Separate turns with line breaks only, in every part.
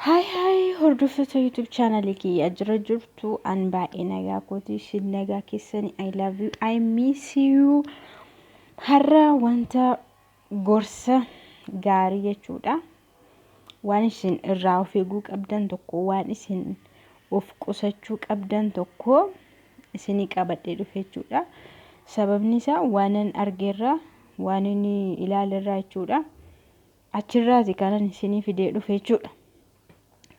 Haay haay hordoftoota YouTube channel kiyya jira jirtu an baay'ee nagaa kooti isin nagaa keessani I love you I miss you har'a wanta gorsa gaarii jechuudha waan isin irraa of eeguu qabdan tokko waan isin of qusachuu qabdan tokko isini qabadhee dhufe jechuudha sababni isaa waanan argeerra waan inni ilaalerraa jechuudha. achirraati kanan isinii fidee dhufe jechuudha.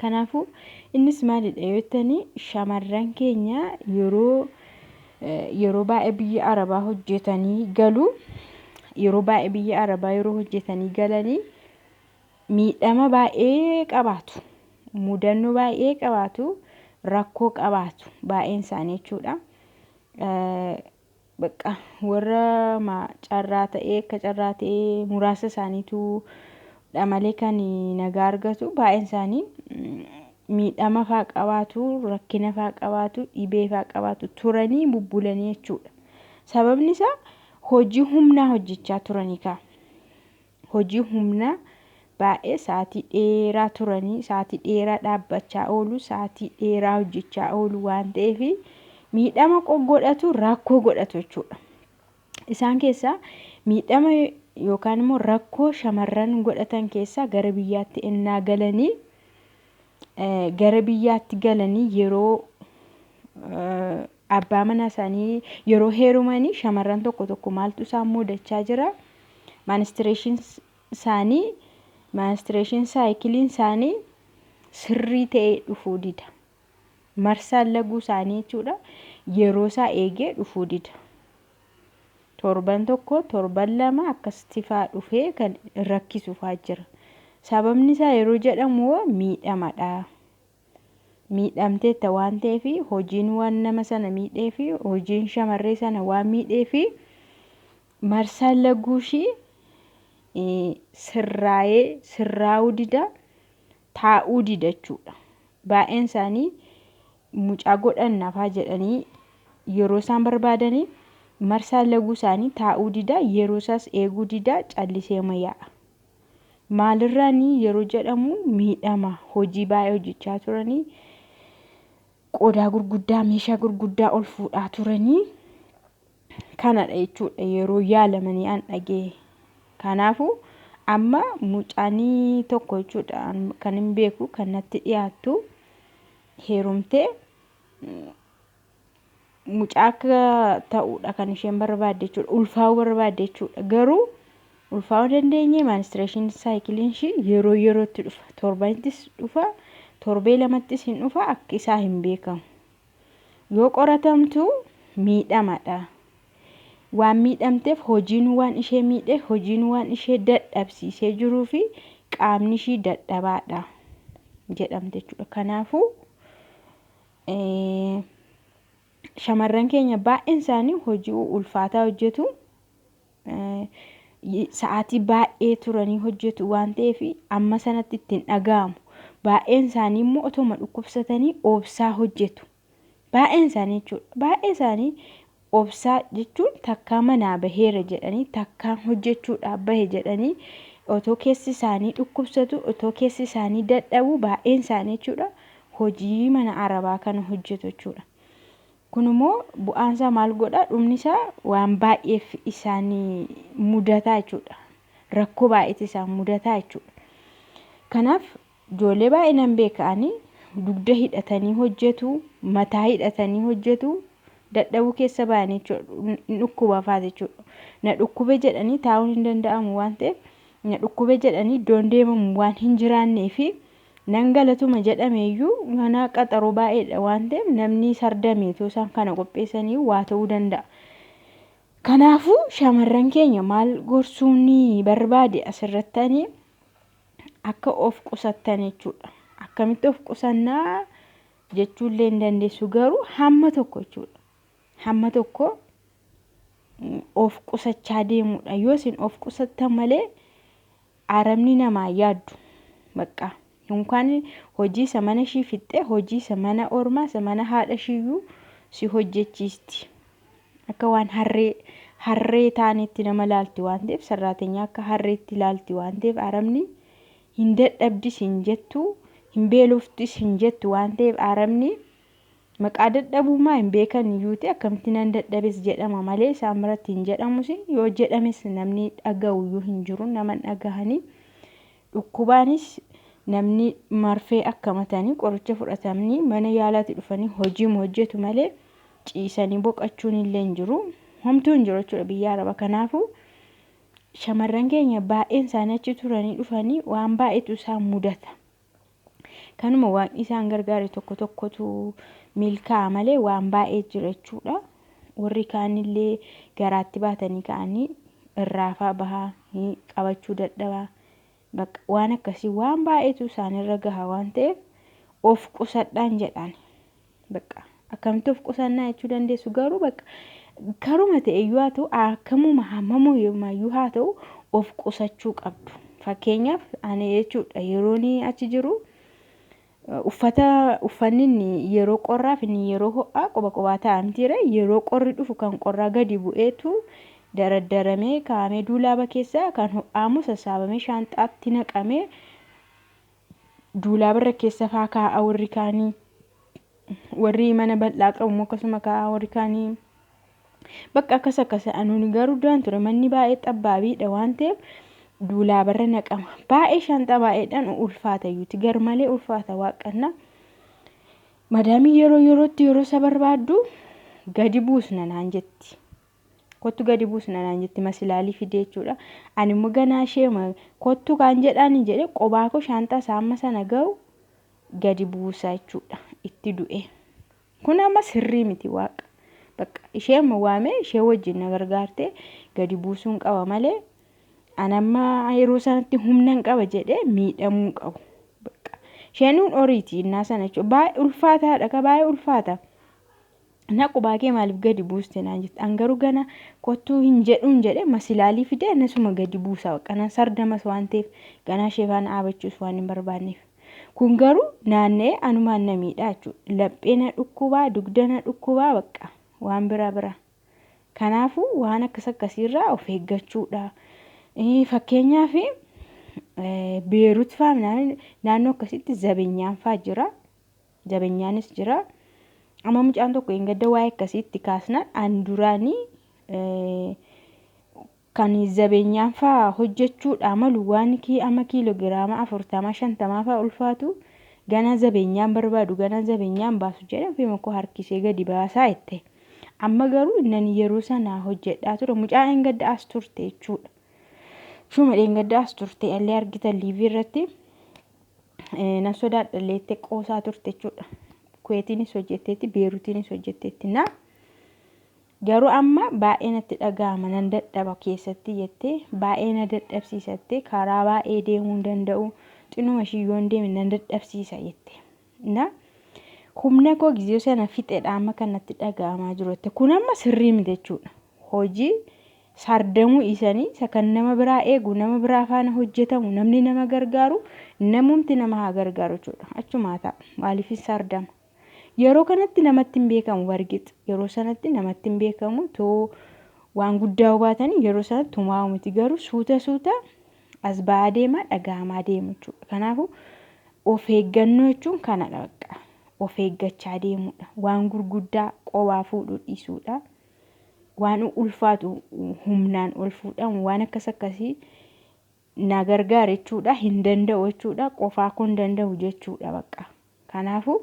Kanaafuu innis maalidha yoo jettanii shamarran keenya yeroo yeroo baay'ee biyya arabaa hojjetanii galu yeroo baay'ee biyya arabaa yeroo hojjetanii galanii miidhama baay'ee qabaatu mudannoo baay'ee qabaatu rakkoo qabaatu baay'een isaanii jechuudha. Baqqa warra ma carraa ta'ee akka carraa ta'ee muraasa isaaniitu dha malee kan nagaa argatu baay'een isaanii miidhama faa qabaatu rakkina faa qabaatu dhibee faa qabaatu turanii bubbulanii jechuudha sababni isaa hojii humnaa hojjechaa turanii kaa hojii humnaa baay'ee sa'aatii dheeraa turanii sa'aatii dheeraa dhaabbachaa oolu sa'aatii dheeraa hojjechaa oolu waan ta'eef miidhama godhatu rakkoo godhatu jechuudha. Isaan keessaa miidhama yookaan immoo rakkoo shamarran godhatan keessaa gara biyyaatti ennaa galanii gara biyyaatti galanii yeroo Abbaa manaa isaanii yeroo heerumanii shamarran tokko tokko maaltu isaan muudachaa jira? Maanistireeshiin isaanii maanistireeshiin saayikiliin isaanii sirrii ta'ee dhufuu dida. Marsaan laguu isaanii jechuudha yeroo isaa eegee dhufuu dida. Torban tokko torban lama akkasitti faa dhufee kan rakkisu faa jira. Sababni isaa yeroo jedhamu miidhamadha. miidhamteetta waan ta'eef, hojiin waan nama sana miidheef, hojiin shamarree sana waan miidheef, marsaan laguu ishii sirraa'ee sirraa'uu dida, taa'uu dida jechuudha. Baay'een isaanii mucaa godhan nafaa jedhanii yeroo isaan barbaadanii marsaan laguu isaanii taa'uu dida, yeroo isaas eeguu dida, callisee yaa'a. Maalirraani yeroo jedhamu miidhama hojii baay'ee hojjechaa turanii qodaa gurguddaa meeshaa gurguddaa ol fuudhaa turanii kanadha jechuudha yeroo yaalamanii an dhagee. Kanaafuu amma mucaanii tokko jechuudha an- kan hin beeku kan natti dhiyaattu heerumtee mucaa akka ta'uudha kan isheen barbaadde jechuudha. Ulfaa'uu barbaadde jechuudha. Garuu ulfaa'uu dandeenye maanistireeshin saayikiliin ishii yeroo yerootti dhufa. Torbanittis dhufa. Torbee lamattis hin dhufa. Akka isaa hin beekamu. Yoo qoratamtu miidhamadha. Waan miidhamteef hojiin waan ishee miidhe hojiin waan ishee dadhabsiisee jiruu fi qaamni ishii dadhabaadha jedhamte jechuudha. Kanaafuu. Shamarran keenya baay'een isaanii hojii ulfaataa hojjetu. Sa'aatii baay'ee turanii hojjetu waan ta'eef amma sanatti ittiin dhaga'amu. Baay'een isaanii immoo otoma dhukkubsatanii oobsaa hojjetu. Baay'een isaanii jechuudha. Baay'ee isaanii Obsaa jechuun takkaa manaa baheera jedhanii, takkaan hojjechuudhaaf bahe jedhanii otoo keessi isaanii dhukkubsatu, otoo keessi isaanii dadhabu baay'een isaanii jechuudha hojii mana arabaa kana hojjetu jechuudha. Kun immoo bu'aan isaa maal godha? Dhumni isaa waan baay'eef isaan mudataa jechuudha. Rakkoo baay'eetu isaan mudataa jechuudha. Kanaaf Ijoollee baay'ee nan beeka ani. Dugda hidhatanii hojjetu, mataa hidhatanii hojjetu, dadhabuu keessa ba'anii jechuudha. Hin dhukkuba fa'a jechuudha. Na dhukkube jedhanii taa'uun hin danda'amu waan ta'eef na dhukkube jedhanii iddoon deemamu waan hin jiraannee fi nan galatuma jedhameeyyuu mana qaxaroo baay'eedha waan ta'eef namni sardame otoo isaan kana qopheessanii waa ta'uu danda'a. Kanaafuu shamarran keenya maal gorsuun barbaade asirratti ani akka of qusattan jechuudha. Akkamitti of qusannaa jechuullee hin dandeessu garuu hamma tokko jechuudha. Hamma tokko mm, of qusachaa deemuudha. Yoo isin of qusattan malee arabni namaa yaaddu. Bakka yookaan hojii isa mana ishii fixxee hojii isa mana ormaa isa mana haadha ishiiyyuu si hojjechiisti. Akka waan harree harree taaneetti nama laalti waan ta'eef sarraatenyaa akka harreetti laalti waan ta'eef Arabni hin dadhabdis hin jettu hin beeloftis hin jettu waan ta'eef Arabni maqaa dadhabummaa hin beekan iyyuu ta'e akkamitti nan dadhabes jedhama malee isaan biratti hin jedhamus yoo jedhames namni dhaga'u iyyuu hin jiru nama hin dhagahanii Dhukkubaanis namni marfee akkamatanii qoricha fudhatamnii mana yaalaati dhufanii hojiim hojjetu malee ciisanii boqachuun illee hin jiru. Homtuu hin jiru jechuudha biyya araba kanaafu shamarran keenya baay'een isaanii achi turanii dhufanii waan baay'eetu isaan mudata. Kanuma waaqni isaan gargaare tokko tokkotu milkaa'a malee waan baay'ee jira jechuudha. Warri kaanillee garaatti baatanii ka'anii irraafaa bahaa qabachuu dadhabaa. Bakka waan akkasii waan baay'eetu isaanirra gaha waan ta'eef of qusadhaan jedhaan. Bakka akkamtu of qusannaa jechuu dandeessu garuu bakka karuma ta'e iyyuu haa ta'u akkamuma hammamuu iyyuu haa ta'u of qusachuu qabdu. Fakkeenyaaf ani jechuudha yeroon achi jiru uffata uffanni inni yeroo qorraaf inni yeroo ho'aa quba qubaa taa'amtiire yeroo qorri dhufu kan qorraa gadi bu'eetu daraddaramee kaa'amee duulaaba keessaa kan ho'aamu sassaabamee shaanxaatti naqamee duulaaba irra keessa faa kaa'a warri kaanii warri mana bal'aa qabu immoo akkasuma kaa'a warri kaanii bakka akkas akkasa anuuni garuu duraan ture manni baay'ee xabbaabiidha waan ta'eef duulaaba irra naqama baay'ee shaanxaa baay'eedhaan ulfaata iyyuuti gar malee ulfaata waaqanna madaamii yeroo yerootti yeroo isa barbaaddu gadi buusna naan jetti. Kottu gadi buusna naan jetti masilaalii fidee jechuudha. Ani immoo ganaa ishee kottu kaan jedhaani jedhee qobaa koo shaanxaa isaa amma sana ga'u gadi buusa jechuudha. Itti du'e. Kun amma sirrii miti waaqa. Bakka ishee amma waamee ishee wajjin na gargaartee gadi buusuun qaba malee an amma yeroo sanatti humnan qaba jedhee miidhamuu qabu. Bakka isheenuun oriiti innaa sana jechuudha. Baay'ee ulfaataadha ka baay'ee ulfaata. Na qubaa kee maaliif gadi buuste naan jette. An garuu gana kottuu hin jedhuun jedhe masilaalii fide anasuma gadi buusa bakka nan sardamas waan ta'eef ganaa ishee faana dhaabachuus waan hin barbaanneef. Kun garuu naanna'ee anumaan na miidhaa jechuudha. Laphee na dhukkubaa, dugda na dhukkubaa bakka waan bira bira. Kanaafuu waan akkas akkasiirraa of eeggachuudha. Eh, Fakkeenyaaf eh, Beerut faa naannoo akkasitti zabenyaan faa jira. jabenyaanis jira amma mucaan tokko hin gadda waa'ee akkasii itti kaasnaan an duraanii kan jabenyaan fa'aa hojjechuudhaa malu waan kii amma kiilogiraama afurtama shantamaa fa'aa ulfaatu ganaa jabenyaan barbaadu ganaa jabenyaan baasu jedhe ofii makoo harkisee gadi baasaa jette amma garuu nan yeroo sanaa hojjedhaa ture mucaa hin gadda as turte jechuudha. Shuma dheengadda as turte illee argitan liivii irratti nan sodaadha illee jettee qoosaa turte jechuudha. Kuweetiinis hojjetteetti, Beerutiinis hojjetteetti. Na garuu amma baay'ee natti dhaga'ama nan dadhaba keessatti jettee baay'ee na dadhabsiisatte karaa baay'ee deemuu hin danda'u xinuma ishii yoon deeme nan dadhabsiisa jette. Na humna koo gizee sana fixedha amma kan natti dhaga'amaa jiru jette. Kun amma sirrii miti jechuudha. Hojii sardamuu dhiisanii isa kan nama biraa eegu, nama biraa faana hojjetamu, namni nama gargaaru, namumti nama haa gargaaru jechuudha. Achumaa ta'a. Maaliif hin sardama? Yeroo kanatti namatti hin beekamu bargix. Yeroo sanatti namatti hin beekamu too waan guddaa hubaatanii yeroo sanatti tumaa'u miti garuu suuta suuta as ba'aa deema, dhaga'amaa deemu jechuudha. Kanaafu of eeggannoo jechuun kanadha bakka. Of eeggachaa deemuudha. Waan gurguddaa qobaa fuudhuu dhiisuudha. Waan ulfaatu humnaan ol fuudhamu waan akkas akkasii na gargaara jechuudha. Hin danda'u jechuudha. Qofaa kun danda'u jechuudha bakka. Kanaafuu,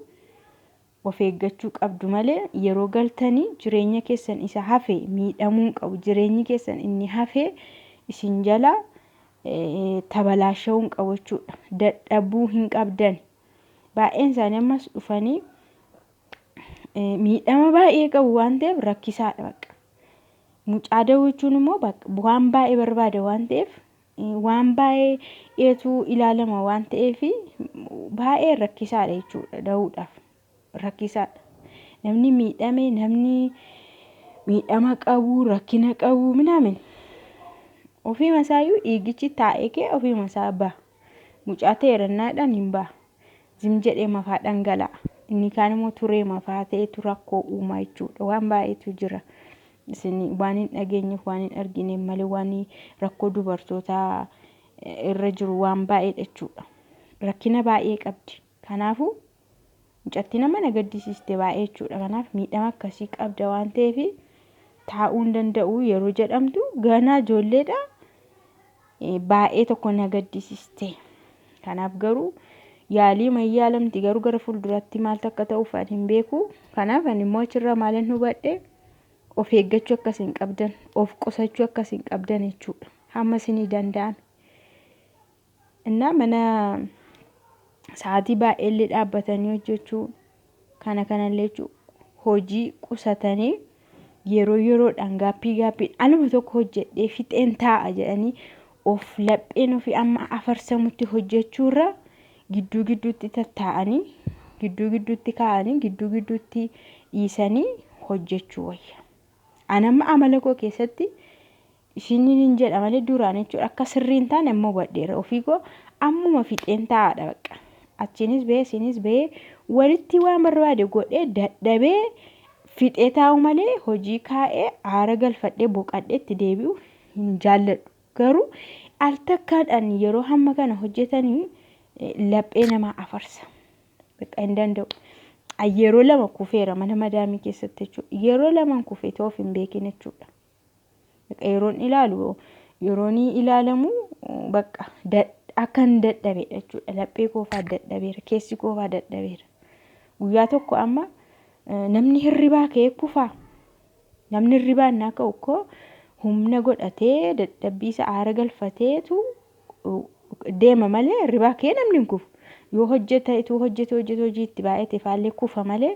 of eeggachuu qabdu malee yeroo galtanii jireenya keessan isa hafe miidhamuu hin qabu. Jireenyi keessan inni hafe isin jalaa tabalaasha'uu hin qabu jechuudha. Dadhabuu hin qabdani. Baay'een isaanii ammas dhufanii miidhama baay'ee qabu waan ta'eef rakkisaadha bakka. Mucaa da'uu jechuun immoo waan baay'ee barbaada waan ta'eef waan baay'ee eetu ilaalama waan ta'eef baay'ee rakkisaadha jechuudha da'uudhaaf rakkisaadha. Namni miidhame namni miidhama qabu rakkina qabu minaamin ofiima isaayyuu dhiigichi taa'ee kee ofiima isaa ba'a. Mucaa ta'e rannaadhaan hin ba'a. Zim jedhee mafaa dhangala'a. Inni kaan immoo turee mafaa ta'etu rakkoo uumaa jechuudha. Waan baay'eetu jira. Isin waan hin dhageenyeef waan hin argineef malee waan rakkoo dubartootaa irra jiru waan baay'eedha jechuudha. Rakkina baay'ee qabdi. Kanaafuu mucatti nama na gaddisiiste baay'ee jechuudha. Kanaaf miidhama akkasii qabda waan ta'eef taa'uu hin danda'u yeroo jedhamtu ganaa ijoolleedha. baay'ee tokko na gaddisiste. Kanaaf garuu yaalii man yaalamti garuu gara fuulduraatti maaltu akka ta'uuf ani hin beeku. Kanaaf ani immoo achirraa maalan hubadhe of eeggachuu akka isin qabdan, of qusachuu akka isin qabdan jechuudha. Hamma isinii danda'ame. Innaa mana sa'aatii baay'eellee dhaabbatanii hojjechuu, Kana kanallee jechuun hojii qusatanii yeroo yeroodhaan gaappii gaappiin aluma tokko hojjedhee fixeen taa'a jedhanii of lapheen ofii amma afarsamutti hojjechuurra gidduu gidduutti tattaa'anii gidduu gidduutti kaa'anii gidduu gidduutti dhiisanii hojjechuu wayya. Anamma amala koo keessatti isiniinin jedha malee duraan jechuudha akka sirrii hin taane amma hubadheera ofii koo ammuma fixeen taa'aadha bakka achiinis bahee isiinis bahee walitti waan barbaade godhee dadhabee fixee taa'u malee hojii kaa'ee aara galfadhee boqadhee itti deebi'u hin jaalladhu garuu al takkaadhaan yeroo hamma kana hojjetanii eh, laphee namaa afarsa bakka hin danda'u. An yeroo lama kufeera mana madaamii keessatti jechuudha. Yeroo laman kufe ta'uuf hin beekin jechuudha. Yeroon ilaalu yeroon ilaalamu bakka akkan dadhabeedha jechuudha. Laphee koofaa dadhabeera. Keessi koofaa dadhabeera. Guyyaa tokko amma namni hirribaa ka'ee kufaa. Namni hirribaa innaa ka'u koo humna godhatee dadhabbii isa aara galfateetu deema malee hirribaa ka'ee namni hin kufu. Yoo hojjeta ituu hojjete hojjete hojii itti baay'ate faallee kufa malee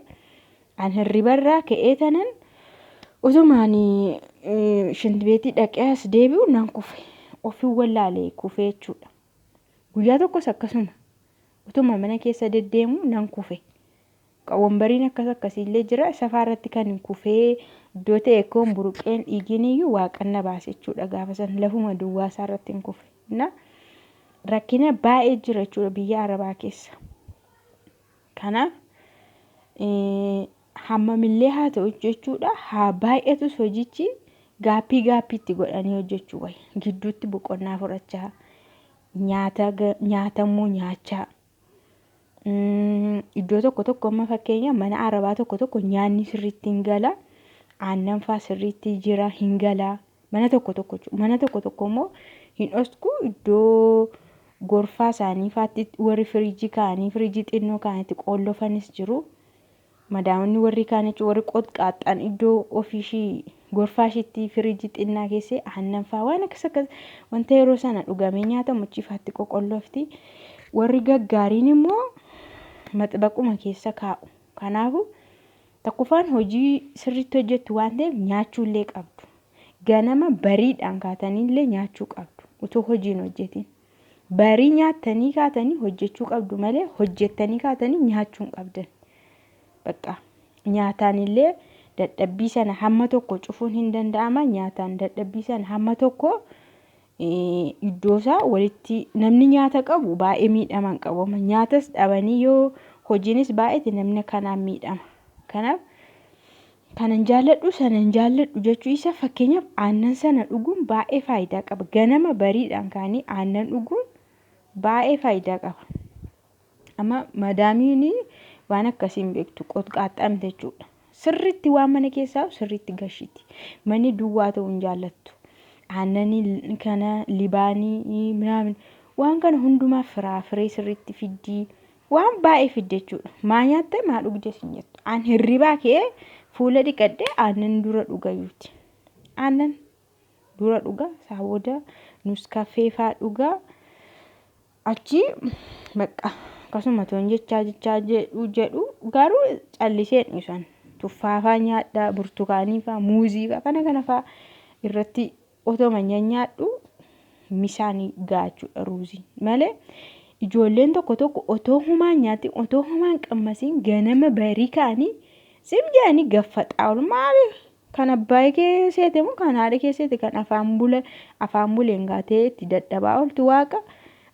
An hirribarraa ka'ee tanan utumaan shintibeetii dhaqee as deebi'u nan kufe. Ofin wallaalee kufee jechuudha. Guyyaa tokkos akkasuma utuma mana keessa deddeemu nan kufe. Wambariin akkas akkasiillee jira. Safaa irratti kan hin kufee iddoo ta'e koon buruqeen dhiigiin iyyuu waaqanna baase jechuudha gaafa san lafuma duwwaa isaa irratti hin kufe. Rakkina baay'ee jira jechuudha biyya Arabaa keessa. Kanaaf hammamillee haa ta'u jechuudha haa baay'atus hojichi gaappii gaappii itti godhanii hojjechuu wayya. Gidduutti boqonnaa fudhachaa nyaata nyaatamuu nyaachaa iddoo tokko tokko amma fakkeenya mana arabaa tokko tokko nyaanni sirriitti hin gala aannan faa sirriitti jira hin gala Mana tokko tokko jechuudha. Mana tokko tokko immoo hin dhosku iddoo gorfaa isaanii faatti warri firiijii kaa'anii firiijii xinnoo kaa'anitti qoollofanis jiru. Madaamonni warri kaan jechuun warri qotqaaxxaan iddoo ofiishii gorfaa ishiitti firiijii xinnaa keessee aannan fa'aa waan akkas akkas wanta yeroo sana dhugamee nyaatamu achi faatti qoqollofti. Warri gaggaariin immoo maxbaquma keessa kaa'u. Kanaafuu Tokkoffaan hojii sirriitti hojjettu waan ta'eef nyaachuullee qabdu. Ganama bariidhaan kaataniillee nyaachuu qabdu utuu hojii hin hojjetin. Barii nyaattanii kaatanii hojjechuu qabdu malee hojjettanii kaatanii nyaachuu hin qabdan. Bakka nyaataanillee dadhabbii sana hamma tokko cufuun hin danda'ama. Nyaataan dadhabbii sana hamma tokko iddoo isaa walitti namni nyaata qabu baay'ee miidhaman qabama nyaatas dhabanii yoo hojiinis baay'eeti namni kanaan miidhama kanaaf kanan jaalladhu sanan jaalladhu jechuu isa fakkeenyaaf aannan sana dhuguun baay'ee faayidaa qaba ganama bariidhaan kaanii aannan dhuguun baay'ee faayidaa qaba. Amma madaamiin waan akkasii hin beektu qotqaaxxaamte jechuudha. Sirriitti waan mana keessaa sirriitti gashiti. Manni duwwaa ta'uu hin jaallattu. Aannanii kana libaanii minaamin waan kana hundumaa firaa firee sirriitti fiddii waan baay'ee fidde jechuudha. Maa nyaatte maa dhugde sin jettu. Aan hirribaa kee fuula dhiqadhee aannan dura dhugayyuuti. Aannan dura dhugaa isaa booda nuskafeefaa dhugaa. Achii bakka akkasuma toon jechaa jechaa jedhu jedhu garuu calliseen dhiisan tuffaafaa nyaadhaa burtukaaniifaa muuziifaa kana kanafaa irratti otoo manya nyaadhu misaanii gaachuudha ruuzii malee ijoolleen tokko tokko otoo humaan nyaatti otoo humaan qammasiin ganama barii kaanii sim jedhanii gaffaxaa ol maaliif Kan abbaay kee seete moo kan haadha kee seete kan afaan bula afaan buleen gaatee itti dadhabaa ooltu waaqa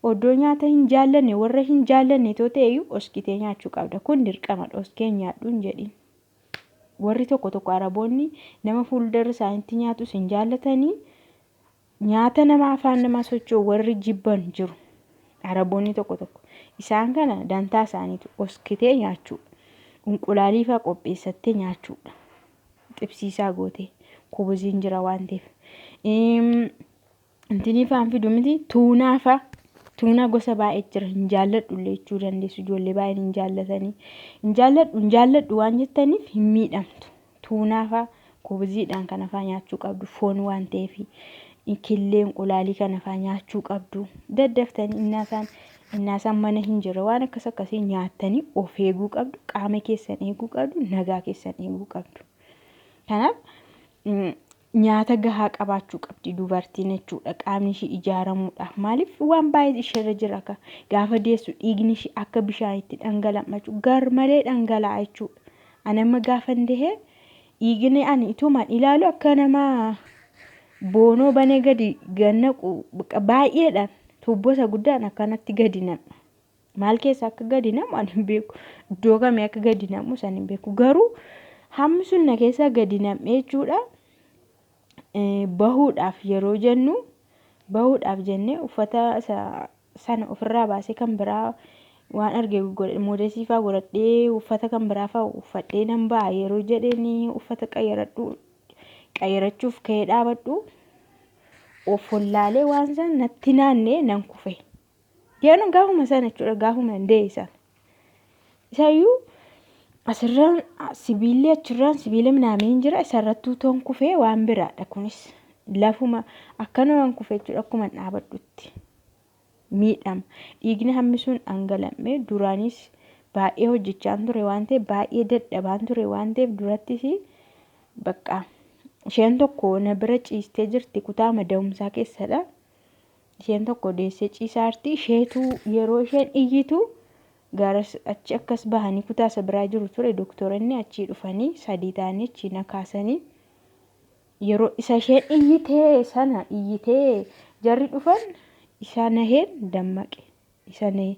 oddoo nyaata hin jaallanne warra hin jaallanne too ta'eyyuu oskitee nyaachuu qabda kun dirqamadha oskee nyaadhu hin jedhin warri tokko tokko araboonni nama fuuldarra isaanitti nyaatus hin jaallatanii Nyaata nama afaan namaa socho'u warri jibban jiru. Araboonni tokko tokko. Isaan kana dantaa isaaniitu oskitee nyaachuu. Unqulaaliifaa qopheessattee nyaachuudha. Xibsiisaa gootee. Kubuziin jira waan ta'eef. Intiniifaan fidu miti tuunaafaa. Tuunaa gosa baay'ee jira. Hin jaalladhu illee jechuu dandeessu. Ijoollee baay'een hin jaallatanii. Hin jaalladhu hin jaalladhu waan jettaniif hin miidhamtu. Tuunaa faa, kubiziidhaan kana faa nyaachuu qabdu foon waan ta'eef. Killee inqulaalii kana faa nyaachuu qabdu. Daddaftanii innaasaan innaasaan mana hin jirre waan akkas akkasii nyaattanii of eeguu qabdu. Qaama keessan eeguu qabdu. Nagaa keessan eeguu qabdu. Kanaaf Nyaata gahaa qabaachuu qabdi dubartiin jechuudha. Qaamni ishii ijaaramuudhaaf maaliif waan baay'ee isheerra jira ka gaafa deessu dhiigni ishii akka bishaanitti dhangala'machu garmalee dhangala'a jechuudha. Ani amma gaafan dehee dhiigni ani itumaan ilaalu akka nama boonoo banee gadi gannaqu baay'eedhaan tuubboo isa guddaan akkanatti gadi naqu. maal keessa akka gadi namu ani hin beeku iddoo kamii akka gadi namu san hin beeku garuu hammi sun na keessa gadi nam'ee jechuudha bahuudhaaf yeroo jennu bahuudhaaf jennee uffata sana ofirraa baasee kan biraa waan arge moodesii faa godhadhee uffata kan biraa faa uffadhee nan ba'a yeroo jedheen uffata qayyaradhu qayyarachuuf ka'ee dhaabadhu of hollaalee waan san natti naannee nan kufe. Deeman gaafuma sana jechuudha gaafuma hin dee'e sana. Isaayyuu asirraan sibiilli achirraan sibiila minaamiin jira isarratti utoon kufee waan biraadha kunis lafuma akkana waan kufee jechuudha akkuma hin dhaabadhutti miidhama dhiigni hammisuun dhangala'e duraanis baay'ee hojjechaan ture waan ta'eef baay'ee dadhabaan ture waan ta'eef durattis bakka isheen tokko na bira ciistee jirti kutaa mada'umsaa keessadha. Isheen tokko deessee ciisaarti. Isheetu yeroo isheen iyyitu garas achi akkas bahanii kutaa isa biraa jiru ture doktoranni achii dhufanii sadii ta'anii achii na kaasanii yeroo isa isheen iyyitee sana iyyitee jarri dhufan isaa naheen dammaqe isa nahee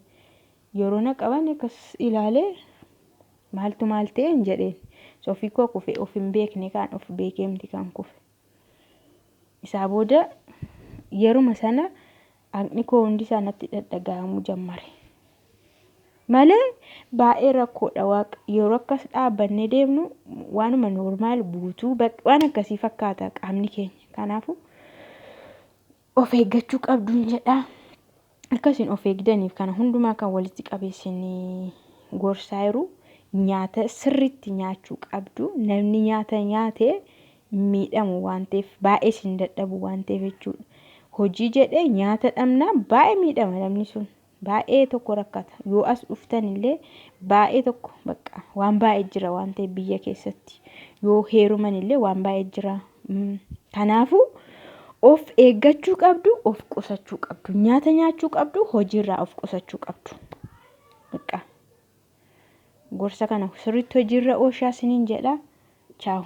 yeroo na qaban akkas ilaalee maaltu maal ta'een jedheen sofii koo kufe of hin beekne kaan of beekeemti kan kufe. Isaa booda yeruma sana haqni koo hundi isaa natti dhadhaga'amuu jammare. Malee baay'ee rakkoodha waaq yeroo akkas dhaabbannee deemnu waanuma noormaal guutuu waan akkasii fakkaata qaamni keenya. Kanaafuu of eeggachuu qabduun jedha. Akka isin of eegdaniif kana hundumaa kan walitti qabee isin gorsaa jiru nyaata sirriitti nyaachuu qabdu. Namni nyaata nyaate miidhamu waan ta'eef baay'ee isin dadhabu waan ta'eef jechuudha. Hojii jedhee nyaata dhabnaan baay'ee miidhama namni sun. Baay'ee tokko rakkata. Yoo as dhuftan illee baay'ee tokko bakka waan baay'ee jira waan ta'eef biyya keessatti. Yoo heeruman illee waan baay'ee jira. Kanaafuu of eeggachuu qabdu, of qusachuu qabdu. Nyaata nyaachuu qabdu, hojiirraa of qusachuu qabdu. Bakka gorsa kana sirriitti hojiirra ooshaa siniin jedha. Chaawu.